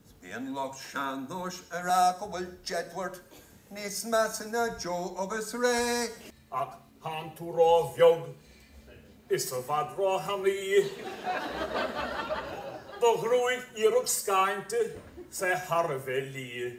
Is bíonn lucht sean-nóis a rá go bhfuil Jedward níos measa ná Joe agus Ray. Ach tánn tú ró bheag is i bhfad ró thanaí. Do ghruaig iarracht scáinte 's é thar a bheith liath.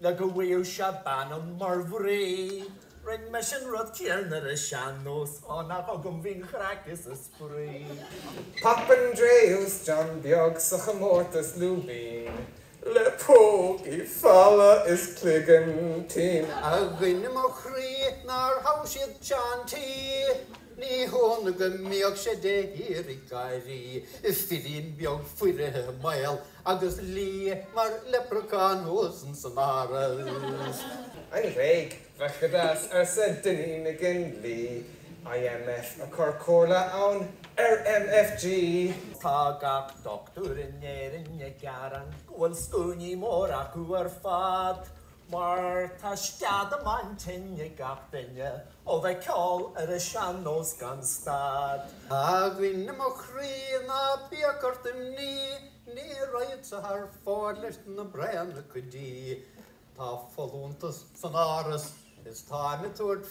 Le go bhfuigheadh sé bean dom mar mhnaoi. Rinn mise an rud céanna ar a sean-nós ó nach agam a bhí an chraic is a spraoi. Papandreou is John Beag sa chomórtas lúibín le pócaí folamh is cloigeann tinn. A dhuine mo chroí nár thogh siad Seán T. Ní hionadh go mbíodh sé de shíor ag gáirí, firín beag foirfe maol Agus liath mar leprechaun thuas in san Áras. An Ghréig, bheadh go deas, arsa Dinny McGinley. IMF ag cur comhairle ann ar MFG. Tá gach dochtúir in Éirinn ag gearán go bhfuil scuainí mór acu ar fad. Mar tá sceadamán tinn ag gach duine ó bheith ceol ar a sean-nós gan stad. A dhuine mo chroí ná bíodh ort imní, ní raghadsa thar fóir leis na braonacha dí. Tá folúntas san Áras is táim ag tabhairt